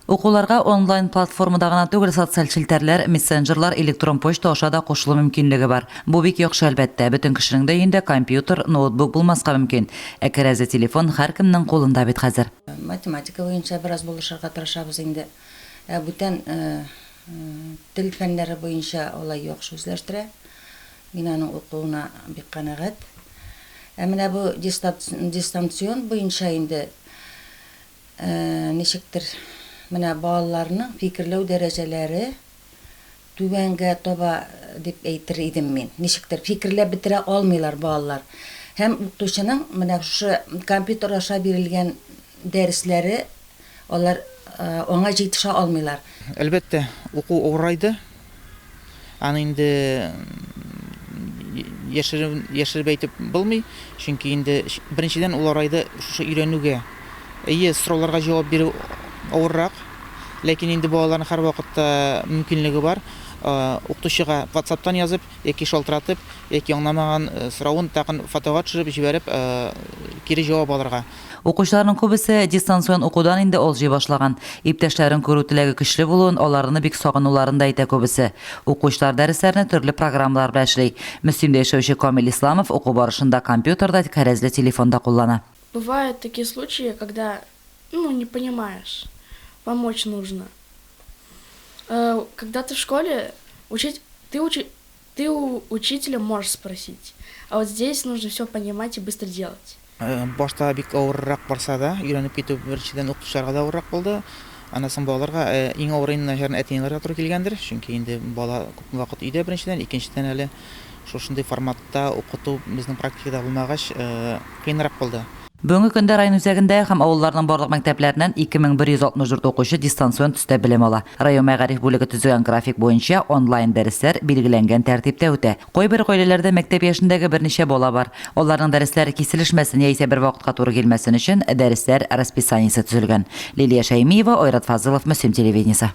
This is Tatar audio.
Укуларга онлайн платформада гына түгел, социаль челтәрләр, мессенджерлар, электрон почта аша да кушылу мөмкинлеге бар. Бу бик яхшы, әлбәттә. Бөтен кешенең дә өендә компьютер, ноутбук булмаска мөмкин. Ә керәзе телефон һәркемнең кулында бит хәзер. Математика буенча бераз булышырга тырышабыз инде. Ә бүтән тел фәннәре буенча алай яхшы үзләштерә. Мин аның укуына бик канәгать. Ә менә бу дистанцион буенча инде Ничектер, менә балаларның фикерләү дәрәҗәләре түбәнгә таба дип әйтер идем мин. Ничектер, фикерләп бетерә алмыйлар балалар. Һәм укытучының менә шушы компьютер аша бирелгән дәресләре, алар аңа җитешә алмыйлар. Әлбәттә, уку авырайды, Аны инде яшереп әйтеп булмый, чөнки инде беренчедән ул арайды шушы өйрәнүгә, әйе, сорауларга җавап бирү авыррак, ләкин инде балаларның һәрвакытта мөмкинлеге бар, укытучыга ватсаптан язып яки шалтыратып, яки аңламаган соравын тагын фотога төшереп җибәреп кире җавап алырга. Укучыларның күбесе дистанцион укудан инде алҗый башлаган. Иптәшләрен күрү теләге көчле булуын, аларны бик сагынуларын да әйтә күбесе. Укучылар дәресләрне төрле программалар белән эшли. Мөслимдә яшәүче Камил Исламов уку барышында компьютер да, кәрәзле телефон да куллана. Бывают такие случаи, когда, ну, не понимаешь, помочь нужно. Э, когда ты в школе, учить, ты учи. Ты у учителя можешь спросить, а вот здесь нужно всё понимать и быстро делать. Башта бик авыррак барса да, өйрәнеп китү беренчедән укытучыларга да авыррак булды, аннан соң балаларга. Иң авыры инде начарны әти-әниләргә туры килгәндер, чөнки инде бала күпме вакыт өйдә беренчедән, икенчедән әле шушындый форматта укыту безнең практикада булмагач, кыенрак булды. Бүгенге көндә район үзәгендә һәм авылларның барлык мәктәпләреннән 2164 укучы дистанцион төстә белем ала. Район мәгариф бүлеге төзегән график буенча, онлайн дәресләр билгеләнгән тәртиптә үтә. Кайбер гаиләләрдә мәктәп яшендәге берничә бала бар. Аларның дәресләре киселешмәсен яисә бер вакытка туры килмәсен өчен, дәресләр расписаниесе төзелгән. Лилия Шәймиева, Айрат Фазылов, Мөслим телевидениесе.